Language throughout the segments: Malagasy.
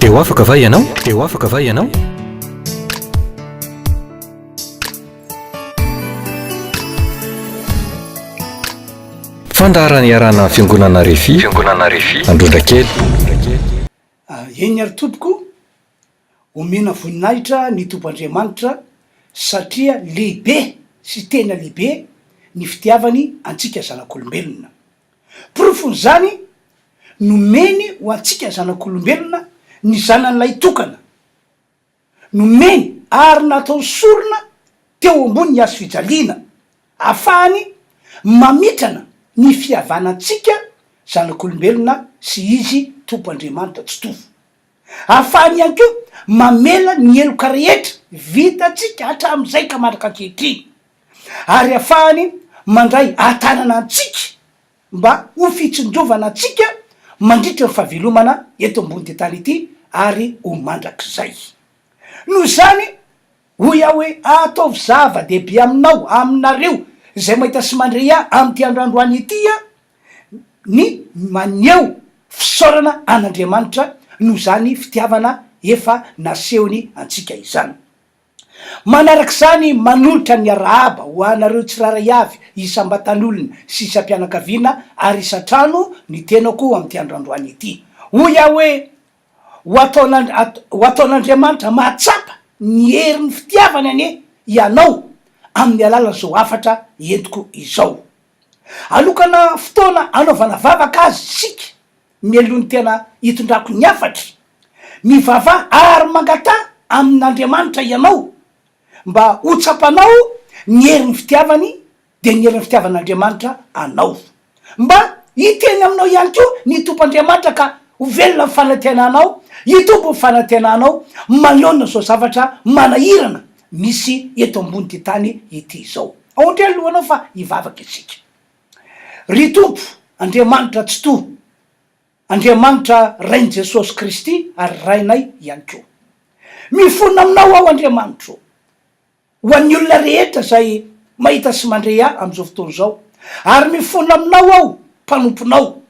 Dia ho afaka va ianao? Dia ho afaka va ianao? Fandaharana iarahana Fiangonana Refi, Fiangonana Refi, Androndrakely. Ah, eny ary tompoko, omena voninahitra ny Tompo Andriamanitra satria lehibe sy tena lehibe ny fitiavany antsika zanak'olombelona. Porofon'izany nomeny ho antsika zanak'olombelona ny Zanany Lahitokana. Nomeny ary natao sorona teo ambonin'ny hazo fijaliana afahany mamitrana ny fihavanantsika zanak'olombelona sy Izy Tompo Andriamanitra Tsitovo. Ahafahany ihany koa mamela ny heloka rehetra vitantsika hatramin'izay ka mandraka ankehitriny, ary ahafahany mandray ahatanana antsika mba ho fitsinjovana antsika mandritra ny fahavelomana eto ambony tany ity ary ho mandrakizay. Noho izany, hoy aho hoe, ataovy zava-dehibe aminao, aminareo izay mahita sy mandre ahy amin'ity androandroany ity, ny maneho fisaorana an'Andriamanitra noho izany fitiavana efa nasehony antsika izany. Manaraka izany, manolotra ny arahaba ho anareo tsirairay avy isam-batan'olona sy isam-pianakaviana ary isan-trano ny tenako amin'ity andro androany ity. Hoy aho hoe, Ho ataon', ho ataon'Andriamanitra mahatsapa ny herin'ny fitiavany anie ianao amin'ny alalan'izao hafatra entiko izao. Hanokana fotoana hanaovana vavaka aza isika mialohan'ny tena hitondrako ny hafatro. Mivavaha ary mangataha amin'Andriamanitra ianao mba ho tsapanao ny herin'ny fitiavany dia ny herin'ny fitiavan'Andriamanitra anao. Mba hiteny aminao ihany koa ny Tompoandriamanitra ka ho velona ny fanantenanao, hitombo ny fanantenanao manoloana izao zavatra manahirana misy eto ambon'ity tany ity izao. Aontreha ny lohanao fa hivavaka isika. Ry Tompo, Andriamanitra Tsitoha, Andriamanitra Rain'i Jesosy Kristy ary Rainay ihany koa. Mifona aminao aho Andriamanitra o. Ho an'ny olona rehetra izay mahita sy mandre ahy amin'izao fotoana izao, ary mifona aminao aho mpanomponao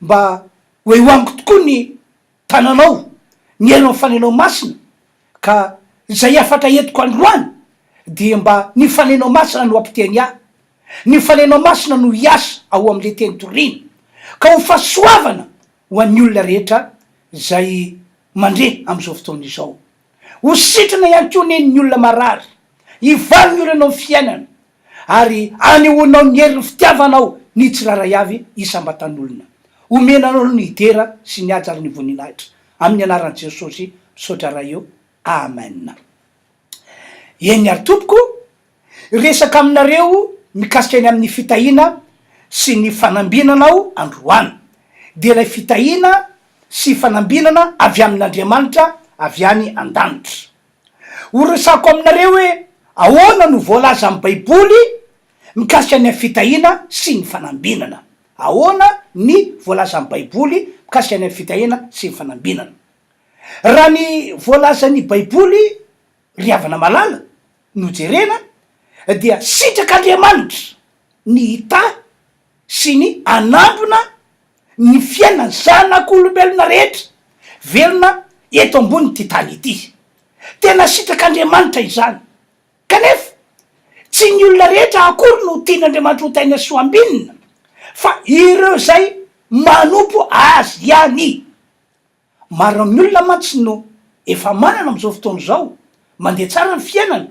mba ho eo amiko tokoa ny Tananao, ny herinao fanenao masina, ka izay hafatra entiko androany dia mba ny fanenao masina no hampiteny ahy, ny fanenao masina no hiasa ao amin'ilay teny toriana, ka ho fahasoavana ho an'ny olona rehetra izay mandre amin'izao fotoana izao. Ho sitrana ihany koa anie ny olona marary, hivaly ny olanao amin'ny fiainana, Ary anehoanao ny herin'ny fitiavanao ny tsirairay avy isam-batan'olona. Omena anao ny hidera sy ny haja ary ny voninahitra. Amin'ny anaran'i Jesosy, misaotra Ray o. Amen. Eny ary Tompoko, hiresaka aminareo mikasika ny amin'ny fitahiana sy ny fanambinana aho androany. Dia ilay fitahiana sy fanambinana avy amin'Andriamanitra avy any an-danitra. Horesahako aminareo hoe ahoana no voalazan'ny Baiboly mikasika ny fitahiana sy ny fanambinana. Ahoana ny voalazan'ny Baiboly mikasika ny fitahiana sy ny fanambinana. Raha ny voalazan'ny Baiboly, ry havana malala, no jerena, dia sitrak'Andriamanitra ny hitahy sy ny hanambina ny fiainan'ny zanak'olombelona rehetra velona eto ambonin'ity tany ity. Tena sitrak'Andriamanitra izany. Kanefa, tsy ny olona rehetra akory no tian'Andriamanitra ho tain'ny hasoa ambinina, fa ireo izay manompo Azy ihany. Maro amin'ny olona mantsy no efa manana amin'izao fotoana izao, mandeha tsara ny fiainana,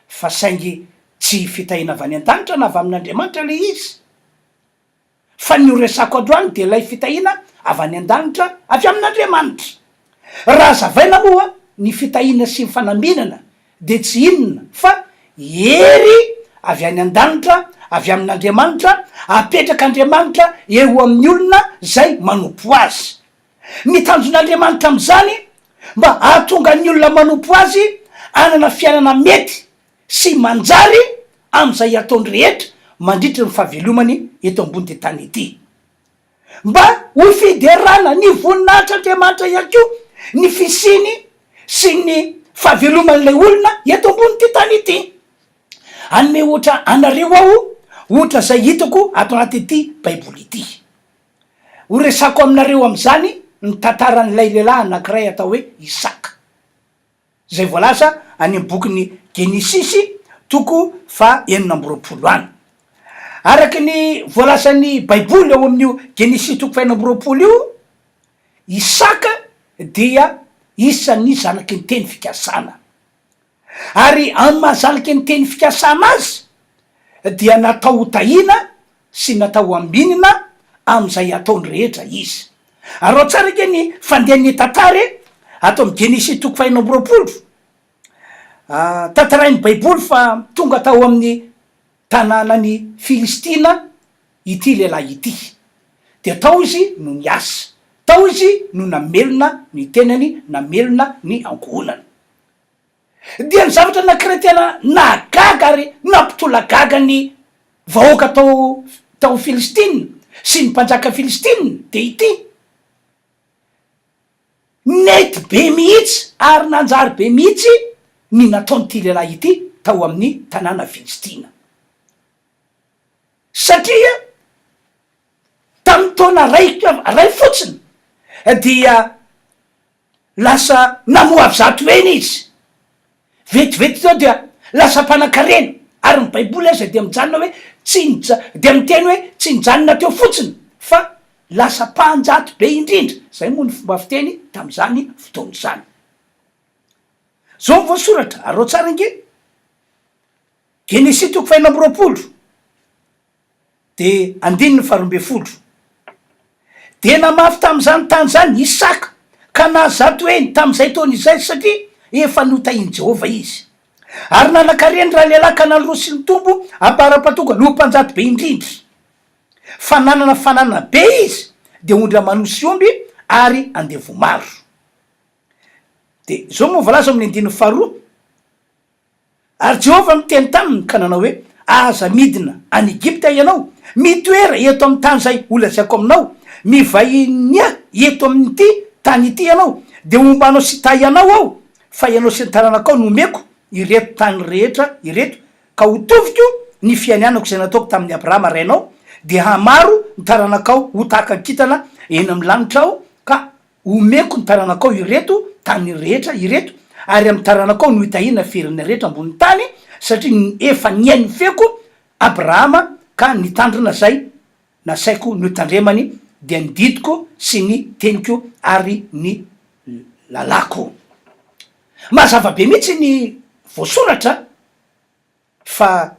fa saingy tsy fitahiana avy any an-danitra na avy amin'Andriamanitra ilay izy. Fa ny horesako androany dia ilay fitahiana avy any an-danitra avy amin'Andriamanitra. Raha hazavaina moa ny fitahiana sy ny fanambinana dia tsy inona fa hery avy any an-danitra avy amin'Andriamanitra apetrak'Andriamanitra eo amin'ny olona izay manompo Azy. Ny tanjon'Andriamanitra amin'izany mba hahatonga ny olona manompo Azy hanana fiainana mety sy manjary amin'izay ataony rehetra mandritry ny fahavelomany eto ambonin'ity tany ity. Mba ho fiderana ny voninahitr'Andriamanitra ihany koa ny fisiany sy ny fahaveloman'ilay olona eto ambonin'ity tany ity. Hanome ohatra anareo aho, ohatra izay hitako ato anatin'ity Baiboly ity. Horesako aminareo amin'izany ny tantaran'ilay lehilahy anankiray atao hoe Isaka, izay voalaza any amin'ny bokin'ny Genesisy, toko faha enina amby roapolo any. Araka ny voalazan'ny Baiboly ao amin'io Genesisy toko faha enina amby roapolo io, Isaka dia isan'ny zanaky ny teny fikasana. ary amin'ny maha zaliky ny teny fikasana azy dia natao ho tahiana sy natao ho ambinina amin'izay ataony rehetra izy. Araho tsara anie ny fandehan'ny tantara ato amin'ny Genesisy toko fahenina amby roapolo. Tantarain'ny Baiboly fa tonga tao amin'ny tanànan'i Filistina ity lehilahy ity, dia tao izy no niasa, tao izy no namelona ny tenany, namelona ny ankohonany. dia ny zavatra nankiray tena nahagaga ary nampitolagaga ny vahoaka tao tao Filistina sy ny mpanjaka Filistina dia ity, Nety be mihitsy ary nanjary be mihitsy ny nataon'ity lehilahy ity tao amin'ny tanàna Filistina, satria tamin'ny taona iraika iray fotsiny dia. Lasa namoavy zato heny izy. Vetivety teo dia lasa mpanan-karena. Ary ny Baiboly aza dia mijanona hoe tsy nija, dia miteny hoe tsy nijanona teo fotsiny fa lasa mpanjato be indrindra. Izay moa ny fomba fiteny tamin'izany fotoana izany. Izao ny voasoratra, araho tsara ange. Genesy toko fahenina amby roapolo. Dia andininy faharoa ambin'ny folo, Dia namafy tamin'izany tany izany Isaka, ka nahazo zato heny tamin'izay taona izay, satria efa notahin'i Jehovah izy. Ary nanan-karena ralehilahy Kanana roa sy nitombo am-paharapan-tonga noho mpanjaka be indrindra. Fa nanana fananana be izy, dia ondry aman'osy sy omby ary andevo maro. Dia izao no voalaza ao amin'ny andininy faharoa. Ary Jehovah niteny taminy ka nanao hoe, Aza midina any Egypta ianao. Mitoera eto amin'ny tany izay holazaiko aminao. Mivahiny ahy eto amin'ity tany ity ianao, dia homba anao sy hitahy anao aho, fa ianao sy ny taranakao no homeko ireto tany rehetra ireto, ka hotoviko ny fianianako izay nataoko tamin'i Abrahama rainao, dia hamaro ny taranakao ho tahaka ny kintana eny amin'ny lanitra aho, ka Homeko ny taranakao ireto tany rehetra ireto, ary amin'ny taranakao no hitahiana ferin'ny rehetra ambonin'ny tany, satria efa nihaino ny feoko Abrahama ka nitandrina izay nasaiko notandremany, dia ny didiko sy ny teniko ary ny lalàko. Mazava be mihitsy ny voasoratra a! Fa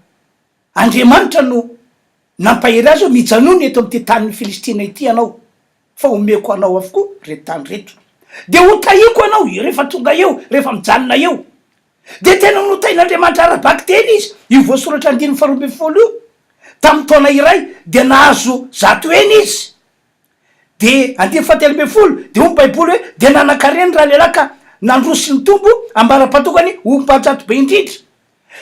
Andriamanitra no nampahery azy hoe, Mijanòna eto amin'ity tanin'ny Filistina ity ianao, fa homeko anao avokoa ireto tany ireto. Dia hotahiako anao rehefa tonga eo, rehefa mijanona eo. Dia tena notahin'Andriamanitra ara-bakiteny izy, io voasoratra andininy faharoa ambin'ny folo io. Tamin'ny taona iray, dia nahazo zato heny izy. Dia andininy fahatelo ambin'ny folo, dia hoy ny Baiboly hoe, Dia nanan-karena ny ralehilahy ka nandroso nitombo ambara-patokany ho mpahatsatso be indrindra.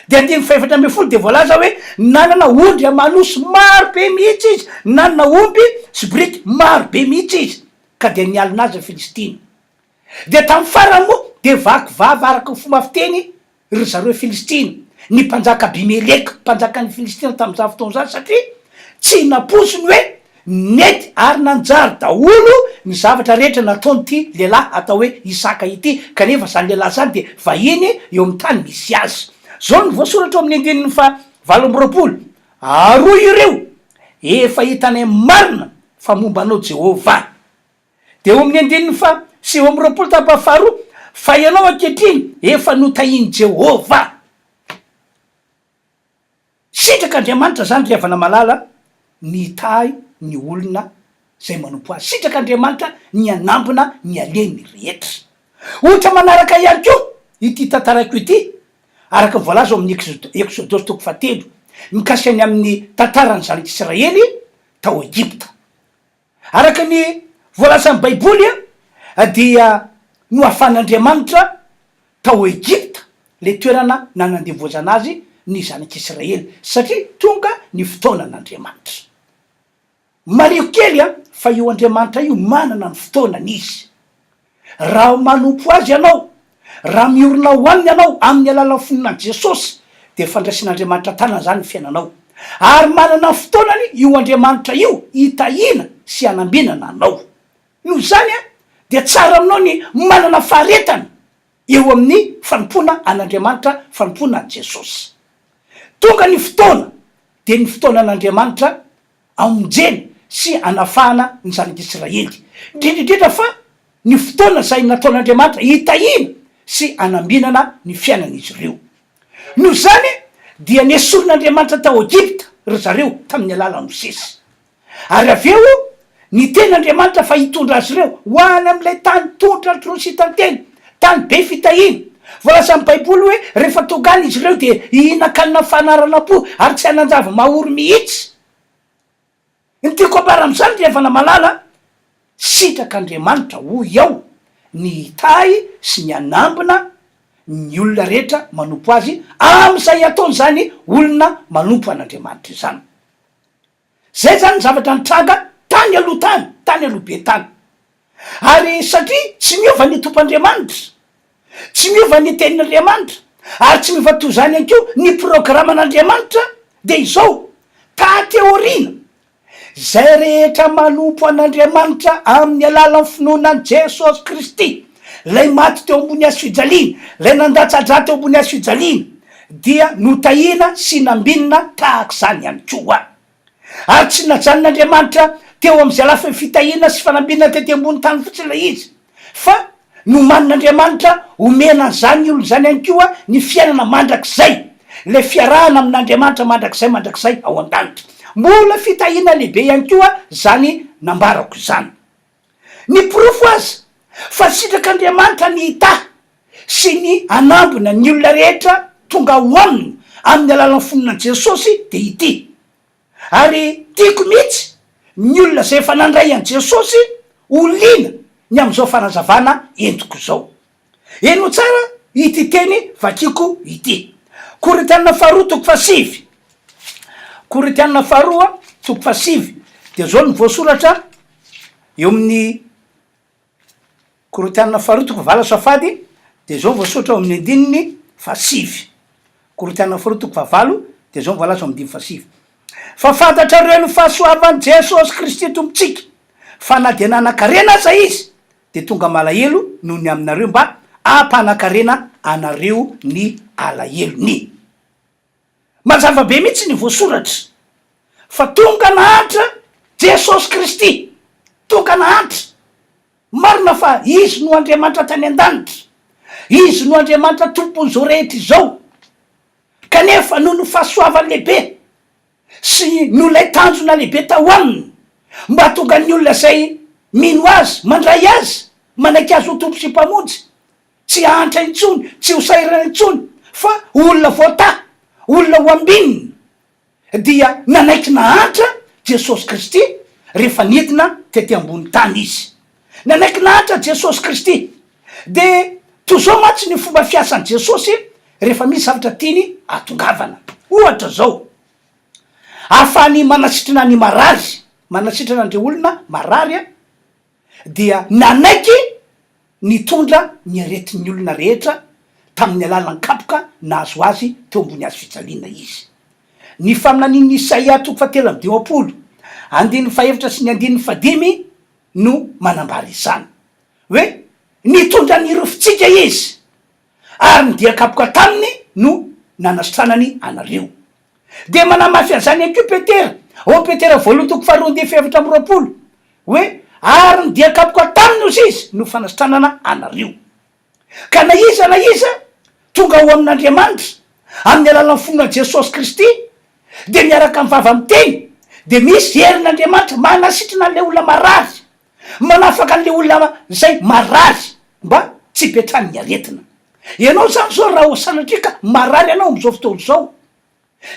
Dia andininy fahefatra ambin'ny folo dia voalaza hoe, Nanana ondry aman'osy maro be mihitsy izy, nanana omby sy biriky maro be mihitsy izy, ka dia nialona azy ny Filistina. Dia tamin'ny farany moa dia vaky vava araka ny fomba fiteny ry zareo Filistina, ny mpanjaka Abimeleka, mpanjakan'ny Filistina tamin'izany fotoana izany, satria tsy nampoizy ny hoe nety ary nanjary daholo ny zavatra rehetra nataon'ity lehilahy atao hoe Isaka ity, kanefa izany lehilahy izany dia vahiny eo amin'ny tany misy azy. Izao no voasoratra ao amin'ny andininy fahavalo amby roapolo, Ary hoy ireo, Efa hitanay marina fa momba anao Jehovah. Dia eo amin'ny andininy faha sivy amby roapolo tapany faharoa, Fa ianao ankehitriny efa notahian'i Jehovah. Sitrak'Andriamanitra izany ry havana malala, ny hitahy ny olona izay manompo azy. Sitrak'Andriamanitra ny hanambina ny aleny rehetra. Ohatra manaraka ihany koa ity tantarako ity, araka ny voalaza ao amin'ny Eksodosy toko fahatelo, mikasika ny amin'ny tantaran'ny zanak'Israely tao Egypta. Araka ny voalazan'ny Baiboly dia nohafan'Andriamanitra tao Egypta ilay toerana nanandevoazana azy ny zanak'Israely satria tonga ny fotoanan'Andriamanitra. Mariho kely fa io Andriamanitra io manana ny fotoanany izy. Raha manompo Azy ianao, raha miorina ho Aminy ianao amin'ny alalan'ny finoan'i Jesosy, dia fandraisan'Andriamanitra tanana izany ny fiainanao. Ary manana ny fotoanany io Andriamanitra io hitahiana sy hanambinana anao. Noho izany, dia tsara aminao ny manana faharetana eo amin'ny fanompoana an'Andriamanitra, fanompoana an'i Jesosy. Tonga ny fotoana, dia ny fotoanan'Andriamanitra hamonjena sy hanafahana ny zanak'Israely, indrindra indrindra fa ny fotoana izay nataon'Andriamanitra hitahiana sy hanambinana ny fiainan'izy ireo. Noho izany dia nesorin'Andriamanitra tao Egypta ry zareo tamin'ny alalan'i Mosesy. Ary avy eo niteny Andriamanitra fa hitondra azy ireo ho any amin'ilay tany tondra atr'ireo sitan-teny. Tany be fitahiana. Voalaza amin'ny Baiboly hoe rehefa tonga any izy ireo dia hihinan-kanina fanaranam-po ary tsy hanan-javy mahory mihitsy. Ny tiako ambara amin'izany, ry havana malala, sitrak'Andriamanitra, hoy aho, ny hitahy sy ny hanambina ny olona rehetra manompo azy amin'izay ataon'izany olona manompo an'Andriamanitra izany. Zay zany ny zavatra nitranga tany aloha tany, tany aloha be tany. Ary satria tsy miova ny Tompoandriamanitra, tsy miova ny Tenin'Andriamanitra, ary tsy miova toy izany ihany koa ny programan'Andriamanitra, dia izao, taty aoriana, izay rehetra manompo an'Andriamanitra amin'ny alalan'ny finoana an'i Jesosy Kristy, Ilay maty teo ambony hazofijaliana, Ilay nandatsa-dra teo ambony hazofijaliana, dia notahina sy nambinina tahaka izany ihany koa. Ary tsy najanon'Andriamanitra teo amin'izay lafiny fitahiana sy fanambinana tety ambony tany fotsiny ilay izy, fa nomanin'Andriamanitra homena an'izany olona izany ihany koa ny fiainana mandrakizay, ilay fiarahana amin'Andriamanitra mandrakizay mandrakizay ao an-danitra. Mbola fitahiana lehibe ihany koa izany nambarako izany. Ny porofo aza fa sitrak'Andriamanitra ny hitahy sy ny hanambina ny olona rehetra tonga ao Aminy amin'ny alalan'ny fon'An'i Jesosy dia ity, Ary tiako mihitsy ny olona izay efa nandray an'i Jesosy ho liana ny amin'izao fanazavana entiko izao. Heno tsara ity teny vakiako ity. Korintiana faharoa toko fahasivy. Korintiana faharoa toko fahasivy dia zao no voasoratra eo amin'ny Korintiana faharoa toko fahavala safady dia zao voasoratra eo amin'ny andininy fahasivy. Korintiana faharoa toko fahavalo dia zao no voalaza eo amin'ny andininy fahasivy. Fa fantatrareo ny fahasoavan'i Jesosy Kristy Tompontsika, fa na dia nanan-karena aza izy dia tonga malahelo noho ny aminareo mba hampanan-karena anareo ny alahelony. Mazava be mihitsy ny voasoratra fa tonga nahantra Jesosy Kristy, tonga nahantra. Marina fa Izy no Andriamanitra tany an-danitra, Izy no Andriamanitra Tompon'izao rehetra izao, kanefa noho ny fahasoavany lehibe, sy noho ilay tanjona lehibe tao aminy mba hahatonga ny olona izay mino Azy, mandray Azy, manaiky Azy ho Tompo sy Mpamonjy, tsy hahantra intsony, tsy ho sahirana intsony, fa ho olona voatahy, olona ho ambinina, dia nanaiky nahantra Jesosy Kristy rehefa nidina tety ambonin'ny tany Izy. Nanaiky lahatra Jesosy Kristy. Dia toy izao mantsy ny fomba fiasan'i Jesosy rehefa misy zavatra tiany hahatongavana. Ohatra izao, ahafahany manasitrana ny marary, manasitrana an'ireo olona marary, dia nanaiky nitondra ny aretin'ny olona rehetra tamin'ny alalan'ny kapoka nahazo azy teo ambony hazo fijaliana izy. Ny faminanian'i Isaia toko fahatelo amby dimampolo, andininy fahefatra sy ny andininy fahadimy no manambara izany hoe nitondra ny rofintsika izy ary ny dia kapoka taminy no nanasitranany anareo. Dia manamafy an'izany ihany koa Petera ao Petera voalohany toko faharoa andinin'ny fahefatra amby roapolo hoe ary ny dia kapoka taminy ozy izy no fanasitranana anareo. Ka na iza na iza tonga ao amin'Andriamanitra amin'ny alalan'ny fonan'i Jesosy Kristy dia miaraka amin'ny vava miteny, dia misy herin'Andriamanitra manasitrana an'ilay olona marary, manafaka an'ilay olona izay marary mba tsy hipetran'ny aretina. Ianao izany izao raha sanatria ka marary ianao amin'izao fotoana izao,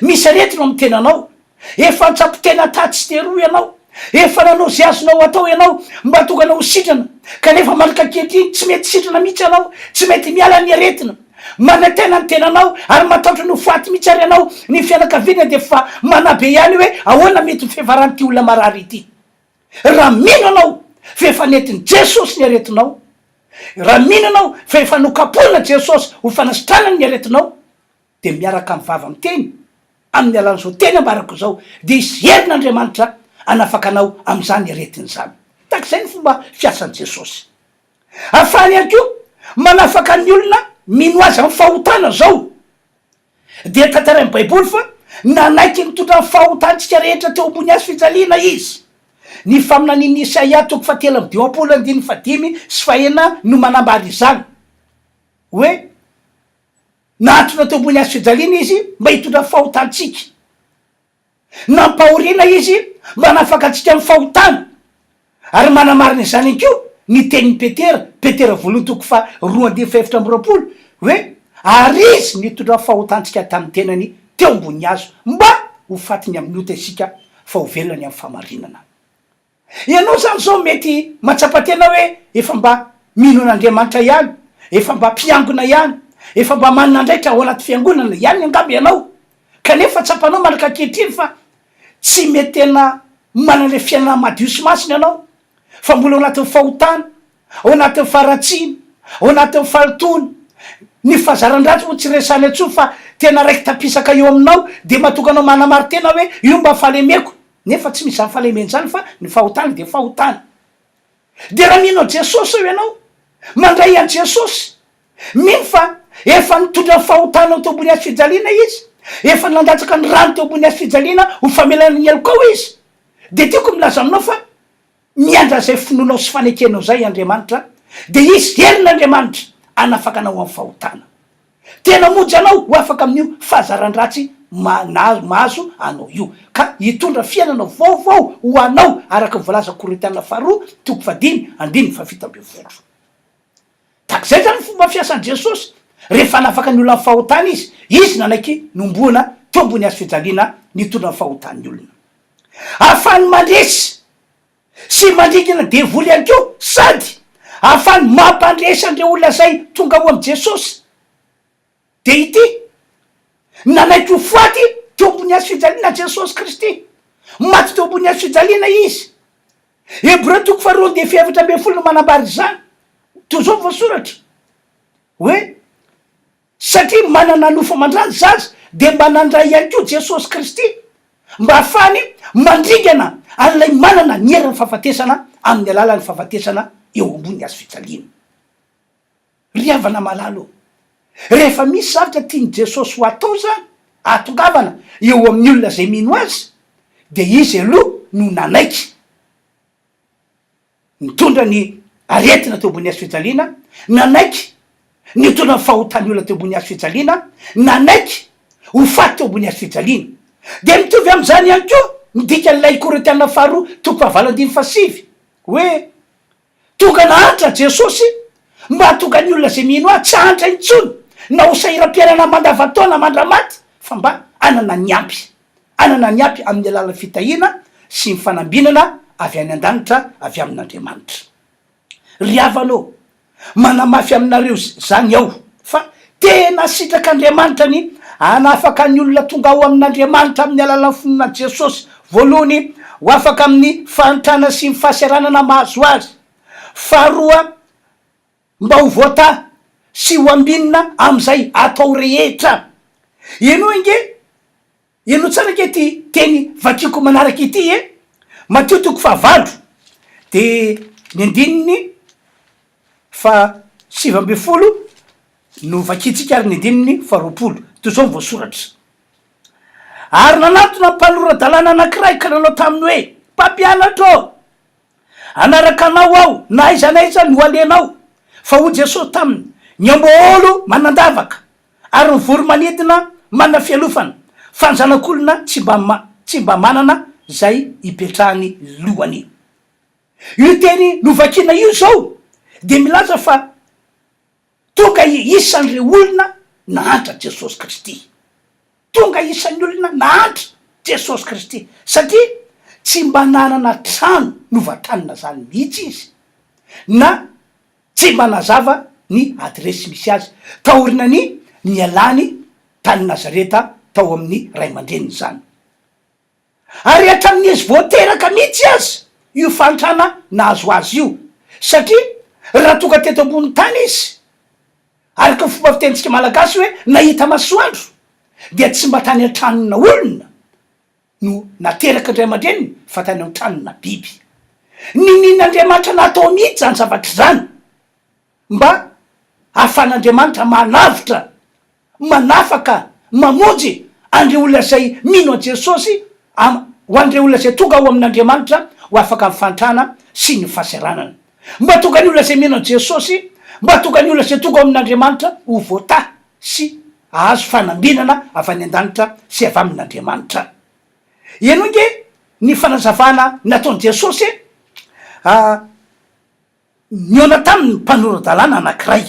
Misy aretina ao amin'ny tenanao. Efa an-tsampy tena taha tsy teroa ianao. Efa nanao izay azonao atao ianao mba tokana ho sitrana, kanefa manomboka ankehitriny tsy mety sitrana mihitsy ianao. Tsy mety miala ny aretina. Manantena ny tenanao ary matahotra ny ho faty mihitsy ary ianao. Ny fianakaviana dia efa manabe ihany hoe ahoana mety ho fihevaran'ity olona marary ity. Raha mino ianao fa efa nentin'i Jesosy ny aretinao, raha mino ianao fa efa nokapohina Jesosy ho fanasitranany ny aretinao, dia miaraka amin'ny vava miteny, amin'ny alalan'izao teny ambarako izao, dia hisy herin'Andriamanitra hanafaka anao amin'izany aretina izany. Tahaka izay ny fomba fiasan'i Jesosy. Ahafahany ihany koa manafaka ny olona mino Azy amin'ny fahotana izao. Dia tantarain'ny Baiboly fa nanaiky nitondra ny fahotantsika rehetra teo ambony Hazo fijaliana Izy. Ny faminanian'i Isaia toko fahatelo amby dimampolo andininy fahadimy sy fahenina no manambara izany. Hoe. Nahantona teo ambony hazofijaliana Izy mba hitondra ny fahotantsika. Nampahoriana Izy mba hanafaka antsika amin'ny fahotana. Ary manamarina izany ihany koa ny tenin'i Petera, Petera voalohany toko faha roa andininy faha efatra amby roapolo, hoe, Ary Izy nitondra ny fahotantsika tamin'ny Tenany teo ambony hazo, mba ho fatiny amin'ny ota isika, fa ho velona ny amin'ny fahamarinana. Ianao izany izao mety mahatsapa tena hoe efa mba mino an'Andriamanitra ihany, efa mba mpiangona ihany, efa mba manana andraikitra ao anaty fiangonana ihany angamba ianao, kanefa tsapanao mandraka ankehitriny fa tsy mety tena manana ilay fiainana madio sy masina ianao, fa mbola ao anatin'ny fahotana, ao anatin'ny faharatsiana, ao anatin'ny fahalotoana. Ny fahazaran-dratsy moa tsy resahina intsony fa tena raiki-tampisaka eo aminao, dia mahatonga anao manamari-tena hoe io mba fahalemeko. Nefa tsy misy izany fahalemena izany fa ny fahotana dia fahotana. Dia raha mino an'i Jesosy sao ianao mandray an'i Jesosy, mino fa efa nitondra ny fahotanao teo ambony hazofijaliana Izy, efa nandatsaka ny rany teo ambony hazofijaliana ho famelana ny helokao Izy, dia tiako milaza aminao fa Miandry an'izay finoanao sy fanekenao izay Andriamanitra, dia hisy herin'Andriamanitra hanafaka anao amin'ny fahotana. Tena hamonjy anao ho afaka amin'io fahazaran-dratsy mahazo anao io, ka hitondra fiainana vaovao ho anao, araka ny voalazan'ny Korintiana Faharoa toko fahadimy, andininy fahafito ambin'ny folo. Tahaka izay izany ny fomba fiasan'i Jesosy, rehefa hanafaka ny olona amin'ny fahotana Izy, Izy nanaiky nohomboana teo ambony hazofijaliana nitondra ny fahotan'ny olona. Ahafahany mandresy sy mandringa ireo devoly ihany koa sady ahafahany mampandresy an'ireo olona izay tonga ao amin'i Jesosy. Dia ity, Nanaiky ho faty teo ambony hazo fijaliana Jesosy Kristy. Maty teo ambony hazo fijaliana Izy. Hebreo toko faharoa andihy fahefatra ambin'ny folo no manambara izany. Toy izao voasoratra hoe. Satria manana nofo aman-drà ny zaza, dia mba nandray ihany koa Jesosy Kristy, mba hahafahany mandringana an'ilay manana ny heran'ny fahafatesana amin'ny alalan'ny fahafatesana eo ambony hazo fijaliana. Ry havana malala ô, rehefa misy zavatra tian'i Jesosy ho atao izany, ahatongavana, eo amin'ny olona izay mino Azy, dia Izy aloha no nanaiky. Nitondra ny aretina teo ambony hazofijaliana, nanaiky ny hitondra ny fahotan'ny olona teo ambony hazofijaliana, nanaiky ho faty teo ambony hazofijaliana. Dia mitovy amin'izany ihany koa ny dikan'ilay Korintiana faharoa toko fahavalo andininy fahasivy, hoe, Tonga nahantra aho, Jesosy, mba hahatonga ny olona izay mino ahy tsy hahantra intsony na ho sahiram-piainana mandavantaona mandra-maty, fa mba hanana ny ampy. hanana ny ampy amin'ny alalan'ny fitahiana sy ny fanambinana avy any an-danitra avy amin'Andriamanitra. Ry havana ô, manamafy aminareo izany aho fa tena sitrak'Andriamanitra ny hanafaka ny olona tonga ao amin'Andriamanitra amin'ny alalan'ny finoana an'i Jesosy voalohany ho afaka amin'ny fahantrana sy ny fahaseranana mahazo azy faharoa Mba ho voataha sy ho ambinina amin'izay atao rehetra. Henoy ange, henoy tsara ange ity teny vakiako manaraka ity e! Matio toko fahavalo dia ny andininy fahasivy ambin'ny folo no vakiantsika ary ny andininy faharoapolo. Toy izao ny voasoratra, Ary nanantona mpanora-dalàna anankiray ka nanao taminy hoe, Mpampianatra ô, Hanaraka anao aho na aiza na aiza no alehanao. Fa hoy Jesosy taminy, Ny amboaôlo manan-davaka, ary ny voro-manidina manana fialofana, fa ny Zanak'olona tsy mba tsy mba manana izay hipetrahany lohany. Io teny novakina io izao dia milaza fa. Tonga isan'ireo olona nahantra Jesosy Kristy. Tonga isan'ny olona nahantra Jesosy Kristy, satria tsy mba nanana trano novantanina izany mihitsy izy, na tsy mba nazava ny adiresy misy azy, taoriana ny nialany tany Nazareta tao amin'ny ray aman-dreniny izany. Ary hatramin'ny izy vao teraka mihitsy aza io fahantrana nahazo azy io, satria raha tonga teto ambony tany izy, araka ny fomba fitenintsika malagasy hoe nahita masoandro, dia tsy mba tany an-tranona olona no nateraka ny ray aman-dreniny fa tany an-tranona biby. Ninian'Andriamanitra natao mihitsy izany zavatra izany. Mba ahafahan'Andriamanitra manavotra, manafaka, mamonjy an'ireo olona izay mino an'i Jesosy, am, ho an'ireo olona izay tonga ao amin'Andriamanitra ho afaka amin'ny fahantrana sy ny fahasaranana. Mba tonga ny olona izay mino an'i Jesosy, mba tonga ny olona izay tonga ao amin'Andriamanitra ho voatahy sy hahazo fanambinana avy any an-danitra sy avy amin'Andriamanitra. Henoy nge ny fanazavana nataon'i Jesosy e! Ah, Nihaona taminy ny mpanora-dalàna anankiray,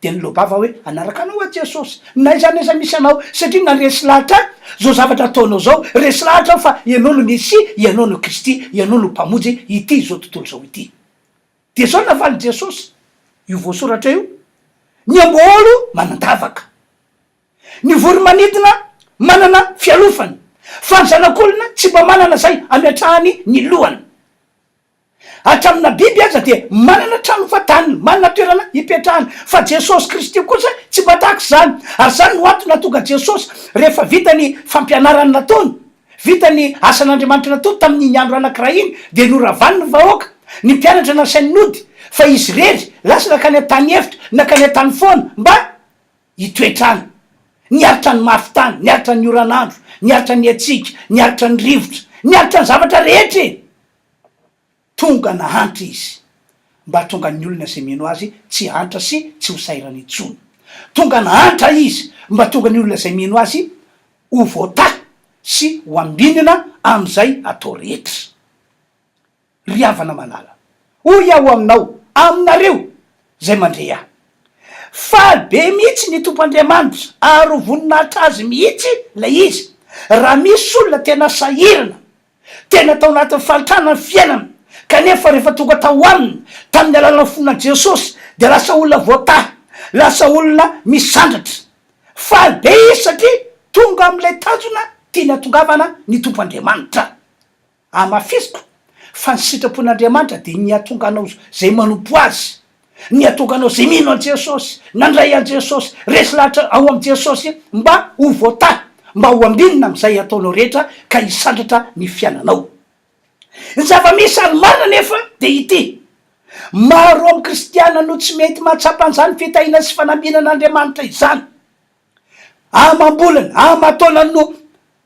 dia niloa-bava hoe, Hanaraka anao aho Jesosy, na aiza na aiza misy anao, satria na resy lahatra aza izao zavatra ataonao izao, resy lahatra aho fa ianao no Mesia, ianao no Kristy, ianao no Mpamonjy ity izao tontolo izao ity. Dia izao no navalin'i Jesosy, io voasoratra io, Ny amboaôlo manan-davaka. Ny voro-manidina manana fialofana. Fa ny Zanak'olona tsy mba manana izay ametrahany ny lohany. Hatramina biby aza dia manana trano fadaniny, manana toerana hipetrahany, fa Jesosy Kristy kosa tsy mba tahaka izany. Ary izany no antony nahatonga Jesosy, rehefa vita ny fampianarany nataony, vita ny asan'Andriamanitra nataony tamin'iny andro anankiray iny, dia noravany ny vahoaka, ny mpianatra nasainy nody, fa izy irery lasa nakany an-tany efitra, nakany an-tany foana, mba. Ny toetr'andro, ny aritra ny mafin-tany, ny aritra ny oran'andro, ny aritra ny hatsiaka, ny aritra ny rivotra, ny aritra ny zavatra rehetra e! Tonga nahantra Izy mba hahatonga ny olona izay mino Azy tsy hahantra sy tsy ho sahirana intsony. Tonga nahantra Izy mba hahatonga ny olona izay mino Azy ho voatahy sy ho ambinina amin'izay atao rehetra. Ry havana malala, hoy aho aminao, aminareo izay mandre ahy, Faly be mihitsy ny Tompo Andriamanitra, ary ho voninahitra Azy mihitsy ilay izy, raha misy olona tena sahirana, tena tao anatin'ny fahantrana ny fiainany, kanefa rehefa tonga tao Aminy, tamin'ny alalan'ny fonà Jesosy, dia lasa olona voatahy, lasa olona misandratra. Faly be izy satria tonga amin'ilay tanjona tiany hahatongavana ny Tompo Andriamanitra. Amafisiko fa ny sitrapon'Andriamanitra dia ny hahatonga anao izay manompo Azy, ny hahatonga anao izay mino an'i Jesosy, nandray an'i Jesosy, resy lahatra ao amin'i Jesosy mba ho voatahy, mba ho ambinina amin'izay ataonao rehetra ka hisandratra ny fiainanao. Ny zava-misy ary marina anefa dia ity, maro amin'ny kristiana no tsy mety mahatsapa an'izany fitahiana sy fanambinan'Andriamanitra izany. Amam-bolana, aman-taonany no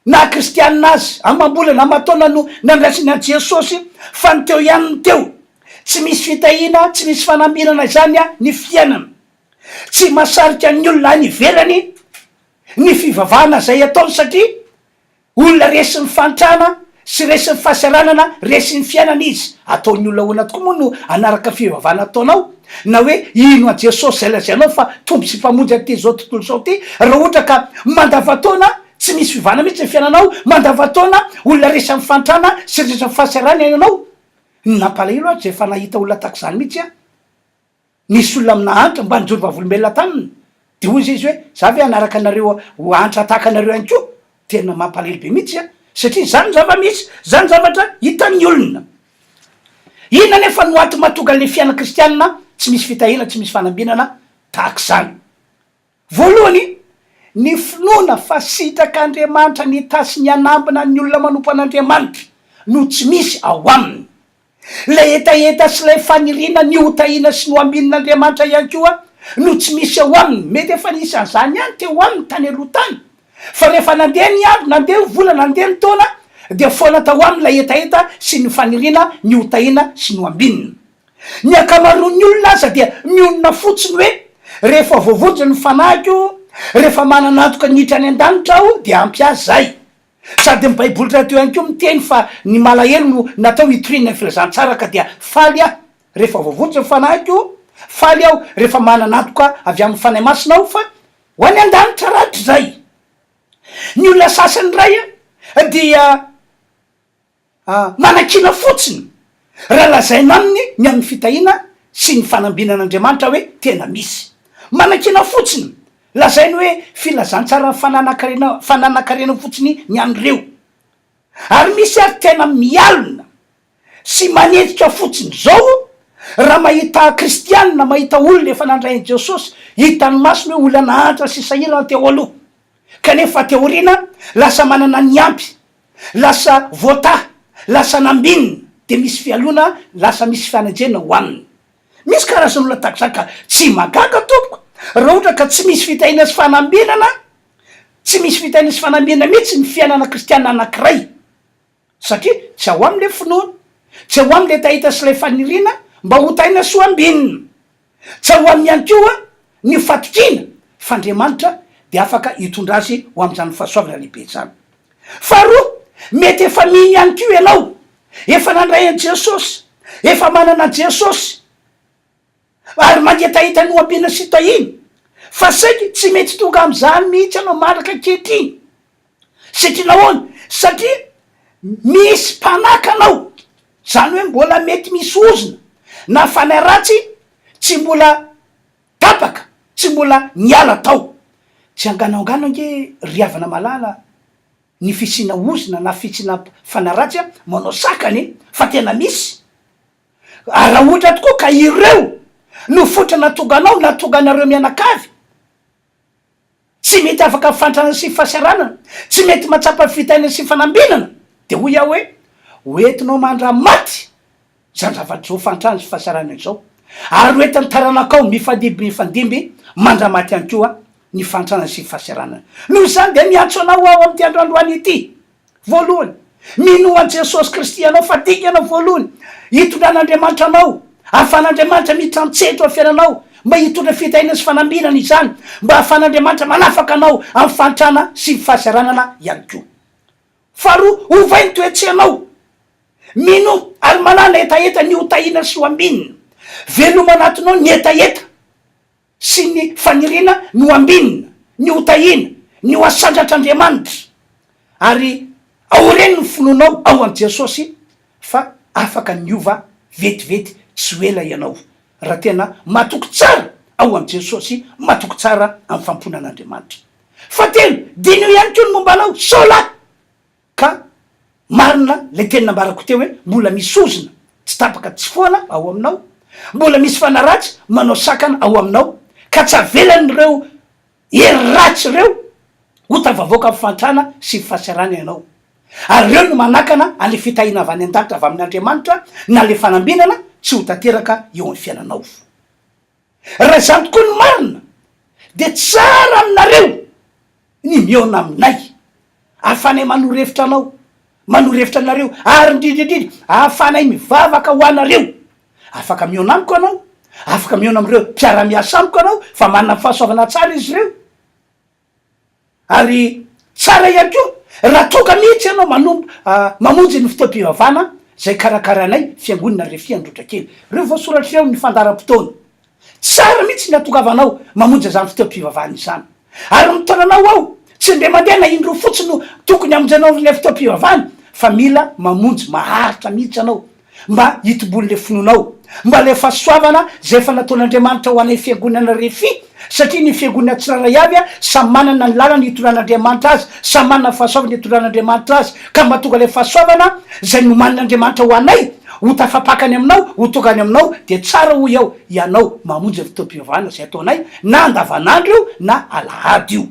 naha-kristianina azy. Amam-bolana, aman-taonany no nandraisany an'i Jesosy, fa ny teo ihany no teo. Tsy misy fitahiana, tsy misy fanamirana izany ny fiainana. Tsy mahasarika ny olona any ivelany ny fivavahana izay ataony, satria Olona resin'ny fahantrana sy resin'ny fahasahiranana resin'ny fiainana izy. Ataon'ny olona ahoana tokoa moa no hanaraka fivavahana ataonao na hoe hino an'i Jesosy izay lazainao fa Tompo sy Mpamonjy an'ity izao tontolo izao ity raha ohatra ka mandavantaona tsy misy fivavahana mihitsy ny fiainanao, mandavantaona olona resin'ny fahantrana sy resin'ny fahasahiranana ianao? Ny nampalahelo azy dia efa nahita olona tahaka izany mihitsy aho. Nisy olona nahantra mba nijoro vavolombelona taminy, dia hoy izay izy hoe, za ve hanaraka anareo ho antra tahaka anareo ihany koa? Tena mampalahelo be mihitsy an! Satria izany ny zava-misy, izany zavatra hitan'ny olona. Inona anefa no antony mahatonga an'ilay fiainana kristianina tsy misy fitahiana, tsy misy fanambinana tahaka izany? Voalohany, ny finoana fa sitrak'Andriamanitra ny itatsy ny hanambina ny olona manompo an'Andriamanitra no tsy misy ao aminy. Ilay hetaheta sy ilay faniriana ny hotahiana sy ny ho ambinin'Andriamanitra ihany koa no tsy misy ao aminy. Mety efa nisy an'izany ihany teo aminy tany aloha tany, fa rehefa nandeha ny andro, nandeha ny volana, nandeha ny taona, dia foana tao aminy ilay hetaheta sy ny faniriana ny hotahiana sy ny ho ambinina. Ny ankamaroan'ny olona aza dia mionona fotsiny hoe, Rehefa voavonjy ny fanahiko, rehefa manana antoka ny hiditra any an-danitra aho, dia ampy ahy izay. Sady ny Baiboly rahateo ihany koa miteny fa ny malahelo no natao hitoriana ny filazantsara, ka dia faly aho rehefa voavonjy ny fanahiko, faly aho rehefa manana antoka avy amin'ny Fanahy Masina aho fa ho any an-danitra rahatrizay. Ny olona sasany indray dia. A. Manakiana fotsiny raha lazaina aminy ny amin'ny fitahiana sy ny fanambinana Andriamanitra hoe tena misy. Manakiana fotsiny, lazainy hoe filazantsara fananankarena fananankarena fotsiny ny an'ireo. Ary misy ary tena mialona sy manenjika fotsiny izao raha mahita kristiana, mahita olona efa nandray an'i Jesosy, hitan'ny masony hoe olona nahantra sy sahirana teo aloha. Kanefa aty aoriana lasa manana ny ampy, lasa voataha, lasa nambinina, dia misy fialona, lasa misy fanenjehina ho aminy. Misy karazan'olona tahak'izany ka tsy mahagaga tompoko raha ohatra ka tsy misy fitahiana sy fanambinana, tsy misy fitahiana sy fanambinana mihitsy ny fiainana kristiana anankiray. Satria tsy ao aminy ilay finoana. Tsy ao aminy ilay tahita sy ilay faniriana mba ho tahiana sy ho ambinina. Tsy ao aminy ihany koa ny fatokiana fa Andriamanitra dia afaka hitondra azy ho amin'izany fahasoavana lehibe izany. Faharoa, mety efa mino ihany koa ianao. Efa nandray an'i Jesosy. Efa manana an'i Jesosy. ary mangetaheta ny hoampiana sy tahiana, fa saingy tsy mety tonga amin'izany mihitsy ianao mandraka ankehitriny. Satria nahoana? Satria misy mpanaka anao, izany hoe mbola mety misy ozona na fanahy ratsy tsy mbola tapaka, tsy mbola niala tao. Tsy anganoangano ange ry havana malala ny fisiana ozona na fisiana fanahy ratsy manao sakana e! Fa tena misy. Ary raha ohatra tokoa ka ireo no fototra nahatonga anao na hahatonga anareo mianakavy tsy mety afaka amin'ny fanantrana sy fahasahiranana, tsy mety mahatsapa fitahiana sy fanambinana, dia hoy aho hoe, ho entinao mandra-maty izany zavatra izao fahantrana sy fahasahiranana izao, ary ho entin'ny taranakao mifandimby mifandimby mandra-maty ihany koa ny fahantrana sy fahasahiranana. Noho izany dia miantso anao aho amin'ity androandroany ity, Voalohany, minoa an'i Jesosy Kristy ianao fa dingana voalohany hitondran'Andriamanitra anao. Ahafahan'Andriamanitra miditra an-tsehatra ao amin'ny fiainanao mba hitondra fitahiana sy fanambinana izany, mba ahafahan'Andriamanitra manafaka anao amin'ny fahantrana sy ny fahasahiranana ihany koa. Faharoa, ovay ny toe-tsainao. Minoa ary manàna hetaheta ny ho tahiana sy ho ambinina. Veloma anatinao ny hetaheta. sy ny faniriana ny ho ambinina, ny ho tahiana, ny ho asandratr'Andriamanitra. Ary aoreno ny finoanao ao amin'i Jesosy fa afaka ny hiova vetivety tsy ho ela ianao, raha tena matoky tsara ao amin'i Jesosy, matoky tsara amin'ny fampoina an'Andriamanitra. Fahatelo, diniho ihany koa ny momba anao, sao lahy! Ka marina ilay teny nambarako teo hoe mbola misy ozona tsy tapaka tsy foana ao aminao, mbola misy fanaratsy manao sakana ao aminao ka tsy avelan'ireo hery ratsy ireo ho tafavoaka amin'ny fahantrana sy ny fahasarana ianao. Ary ireo no manakana an'ilay fitahiana avy any an-danitra avy amin'Andriamanitra na ilay fanambinana tsy ho tanteraka eo amin'ny fiainanao. Raha izany tokoa ny marina, dia tsara aminareo ny mihaona aminay. Ahafahanay manoro hevitra anao, manoro hevitra anareo, ary indrindra indrindra, ahafahanay mivavaka ho anareo. Afaka mihaona amiko ianao, afaka mihaona amin'ireo mpiara-miasa amiko ianao, fa manana ny fahasoavana tsara izy ireo. Ary tsara ihany koa raha tonga mihitsy ianao manomb mamonjy ny fotoam-pivavahana izay karakarainay Fiangonana Refi Androtrakely. Reo voasoratra eo amin'ny fandaharam-potoana. Tsara mihitsy ny hatongavanao mamonjy izany fotoam-pivavahana izany. Ary ny taonanao ao tsy indray mandeha na indroa fotsiny no tokony hamonjenao an'ilay fotoam-pivavahana fa mila mamonjy maharitra mihitsy ianao Mba hitoboan' ilay finoana ao. Mba ilay fahasoavana izay efa nataon' Andriamanitra ho anay fiangonana Refi, satria ny fiangonana tsirairay avy samy manana ny lalany hitondrana Andriamanitra azy, samy manana ny fahasoavana hitondrana Andriamanitra azy, ka mba tonga ilay fahasoavana izay nomanin' Andriamanitra ho anay ho tafapakany aminao, ho tonga any aminao, dia tsara hoy aho hianao mamonjy ny fotoam-pivavahana izay ataonay na andavanandro io na alahady io.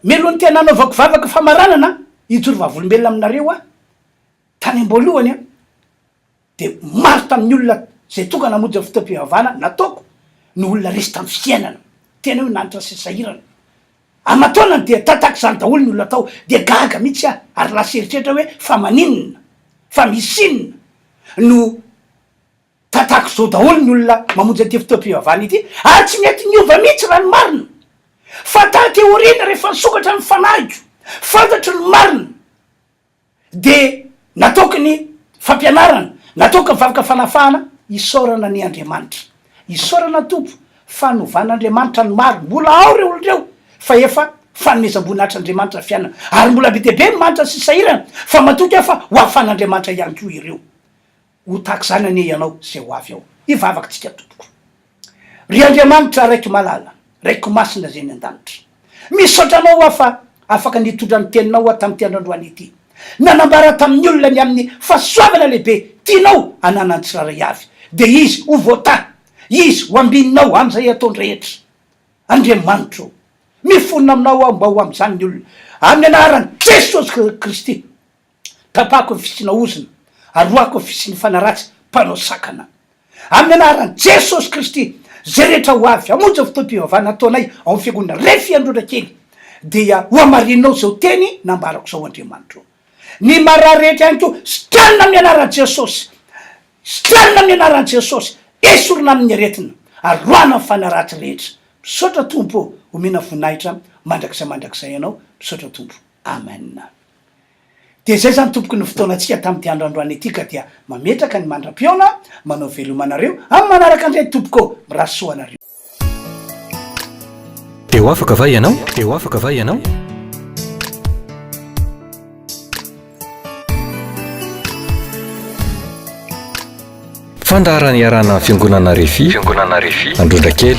Melohany tena hanaovako vavaka famaranana hijoro vavolombelona aminareo aho. Tany am-boalohany dia maro tamin'ny olona izay tonga namonjy ny fotoam-pivavahana nataoko no olona resy tamin'ny fiainana, tena hoe nanitra sy sahirana. Aman-taonany dia tatak'izany daholo ny olona tao, dia gaga mihitsy aho ary lasa eritreritra hoe fa maninona, fa misy inona no tatak'izao daholo ny olona mamonjy an'ity fotoam-pivavahana ity ary tsy mety niova mihitsy raha ny marina. Fa taty aoriana rehefa nisokatra ny fanahiko, fantatro ny marina. dia natoky ny fampianarana, natoky ny vavaka fanafahana, isaorana anie Andriamanitra, isaorana Tompo fa novan'Andriamanitra ny maro, mbola ao ireo olona ireo fa efa fanomezam-boninahitr'Andriamanitra ny fiainana, ary mbola be dia be ny manitra sy sahirana, fa matoky aho fa ho ahafan'Andriamanitra ihany koa ireo. Ho tahaka izany anie ianao izay ho avy ao. Hivavaka tsika tompoko. Ry Andriamanitra Raiko malala, Raiko masina izay any an-danitra. Misaotra Anao aho fa afaka nitondra ny teninao aho tamin'ity androandroany ity. Nanambara tamin'ny olona ny amin'ny fahasoavana lehibe tianao hananan'ny tsirairay avy. Dia izy ho voatahy, izy ho ambininao amin'izay ataony rehetra. Andriamanitra o, mifonona aminao aho mba ho amin'izany ny olona. Amin'ny anaran'i Jesosy Kristy. Tapahako ny fisiana ozona, arohako ny fisian'ny fanaratsy mpanao sakana. Amin'ny anaran'i Jesosy Kristy, izay rehetra ho avy hamonjy ny fotoam-pivavahana ataonay ao amin'ny Fiangonana Refy Androndrakely, dia ho hamarininao izao teny nambarako izao, Andriamanitra ô. Ny marary rehetra ihany koa, sitranina amin'ny anaran'i Jesosy. Sitranina amin'ny anaran'i Jesosy. Esorina amin'ny aretina. Aroahana ny fanaratsy rehetra. Misaotra Tompo ô. Omena voninahitra mandrakizay mandrakizay Ianao. Misaotra Tompo. Amen. Dia zay zany tompoko ny fotoanantsika tamin'ity andro androany ity ka dia mametraka ny mandra-pihaona manao veloma anareo amin'ny manaraka indray tompoko ô! Mirary soa anareo. Dia ho afaka va ianao? Dia ho afaka va ianao? Fandaharana iarahana amin'ny Fiangonana Refi, Androndrakely.